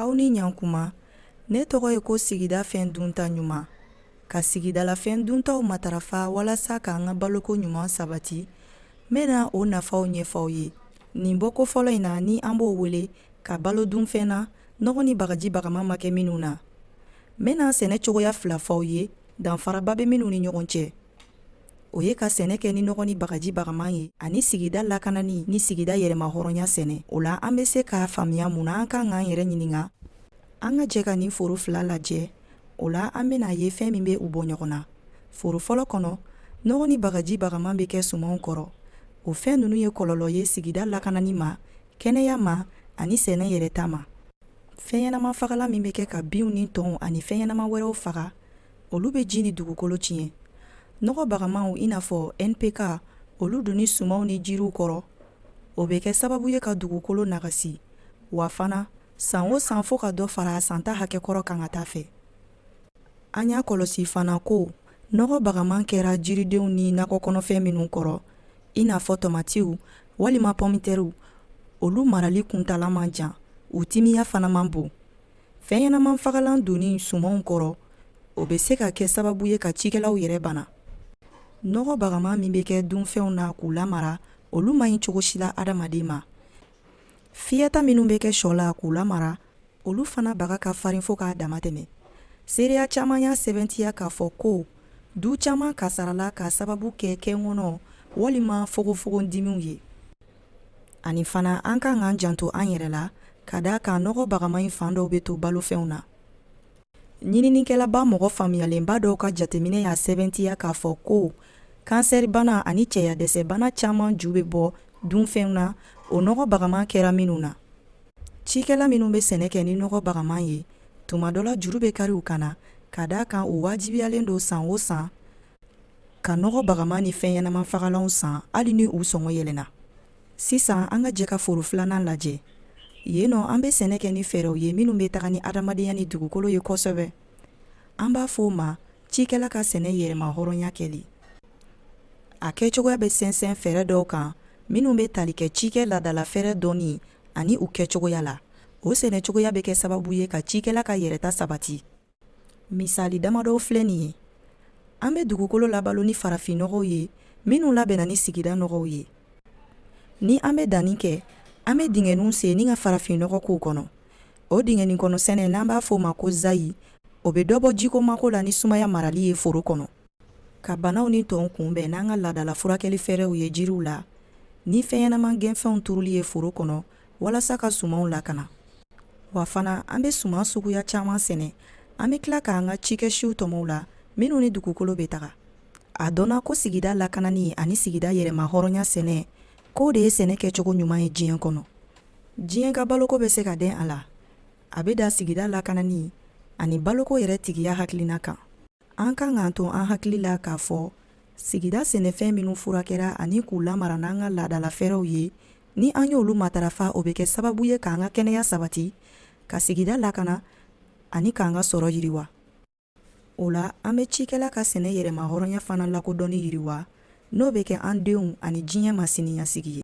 aw ni ɲankuma ne tɔgɔ ye ko sigida fɛn dunta ɲuman ka sigidalafɛn duntaw matarafa walasa k'an ka baloko ɲuman sabati n bɛna o nafaw ɲɛfɔ aw ye nin bɔko fɔlɔ in na ni an b'o wele ka balo dunfɛn na nɔgɔ ni bagaji bagama ma kɛ minnu na n bɛna sɛnɛ cogoya fila fɔ aw ye danfaraba bɛ minnu ni ɲɔgɔn cɛ o ye ka sɛnɛ kɛ ni nɔgɔ ni bagaji bagaman ye ani sigida lakanani ni sigida yɛrɛma hɔrɔnya sɛnɛ o la an bɛ se k'a faamuya mun na an kan k'an yɛrɛ ɲininka an ka jɛ ka nin foro fila lajɛ o la an bɛna a ye fɛn min bɛ u bɔ ɲɔgɔn na foro fɔlɔ kɔnɔ nɔgɔ ni bagaji bagaman bɛ kɛ sumanw kɔrɔ o fɛn ninnu ye kɔlɔlɔ ye sigida lakanani ma kɛnɛya ma ani sɛnɛ yɛrɛta ma fɛn ɲɛnama fagalan min bɛ kɛ ka binw ni tɔnw ani fɛn ɲɛnama wɛrɛw faga olu bɛ ji ni dugukolo tiɲɛ nɔgɔ bagamaw i n'a fɔ npk olu donni sumanw ni jiriw kɔrɔ o bɛ kɛ sababu ye ka dugukolo nagasi wa fana san o san fo ka dɔ fara santa hakɛ kɔrɔ kan ka taa fɛ an y'a kɔlɔsi fana ko nɔgɔ bagaman kɛra jiridenw ni nakɔkɔnɔfɛn minnu kɔrɔ i n'a fɔ tomatiw walima pɔmitɛriw olu marali kuntaala man jan u timiya fana man bon fɛnɲɛnaman fagalan donni sumanw kɔrɔ o bɛ se ka kɛ sababu ye ka cikɛlaw yɛrɛ bana nɔgɔ bagama min bɛ kɛ dunfɛnw na k'u lamara olu man ɲi cogo si la adamaden ma fiyɛta minnu bɛ kɛ shɔ la k'u lamara olu fana baga ka farin fo k'a dama tɛmɛ seereya caman y'a sɛbɛntiya k'a fɔ ko du caman kasarala k'a sababu kɛ kɛnkɔnɔ walima fogofogondimiw ye ani fana an kan k'an janto an yɛrɛ la ka da a kan nɔgɔ bagama in fan dɔw bɛ to balofɛnw na ɲininikɛlaba mɔgɔ faamuyalenba dɔw ka jateminɛ y'a sɛbɛntiya k'a fɔ ko kansɛribana ani cɛyadɛsɛbana caman ju bɛ bɔ dunfɛnw na o nɔgɔ bagaman kɛra minnu na cikɛla minnu bɛ sɛnɛ kɛ ni nɔgɔ bagaman ye tuma dɔ la juru bɛ kari u kan na ka da a kan u wajibiyalen don san o san ka nɔgɔ bagama ni fɛn ɲɛnama fagalanw san hali ni u sɔngɔ yɛlɛnna sisan an ka jɛ ka foro filanan lajɛ yen nɔ an bɛ sɛnɛ kɛ ni fɛɛrɛw ye minnu bɛ taga ni adamadenya ni dugukolo ye kosɛbɛ an b'a fɔ o ma cikɛla ka sɛnɛ yɛrɛma hɔrɔnya kɛli a kɛcogoya bɛ sɛnsɛn fɛɛrɛ dɔw kan minnu bɛ tali kɛ cikɛ laadala fɛɛrɛ dɔnni ani u kɛcogoya la o sɛnɛcogoya bɛ kɛ sababu ye ka cikɛla ka yɛrɛta sabati Misali damadɔw filɛ nin ye. An bɛ dugukolo labalo ni farafinnɔgɔw ye minnu labɛnna ni sigida nɔgɔw ye. Ni an bɛ danni kɛ, an bɛ dingɛninw sen ni ka farafinnɔgɔ k'u kɔnɔ. O dingɛninkɔnɔsɛnɛ n'an b'a fɔ o ma ko zayi, o bɛ dɔ bɔ jiko mako la ni sumaya marali ye foro kɔnɔ. Ka banaw ni tɔnw kunbɛn n'an ka laadala furakɛli fɛɛrɛw ye jiriw la, ni fɛnɲɛnaman gɛnfɛnw turuli ye foro kɔnɔ, walasa ka sumanw lakana wa fana an bɛ suman suguya caman sɛnɛ an bɛ tila k'an ka cikɛsiw tɔmɔ u la minnu ni dugukolo bɛ taga a dɔnna ko sigida lakanani ani sigida yɛrɛmahɔrɔnya sɛnɛ k'o de ye sɛnɛ kɛcogo ɲuman ye diɲɛ kɔnɔ diɲɛ ka baloko bɛ se ka den a la a bɛ da sigida lakanani ani baloko yɛrɛtigiya hakilina kan An kan k'a to an hakili la k'a fɔ sigida sɛnɛfɛn minnu furakɛra ani k'u lamara n'an ka laadala fɛɛrɛw ye ni an y'olu matarafa o bɛ kɛ sababu ye k'an ka kɛnɛya sabati ka sigida lakana ani k'an ka sɔrɔ yiriwa o la an bɛ cikɛla ka sɛnɛ yɛrɛmahɔrɔnya fana lakodɔnni yiriwa n'o bɛ kɛ an denw ani diɲɛ maa siniɲasigi ye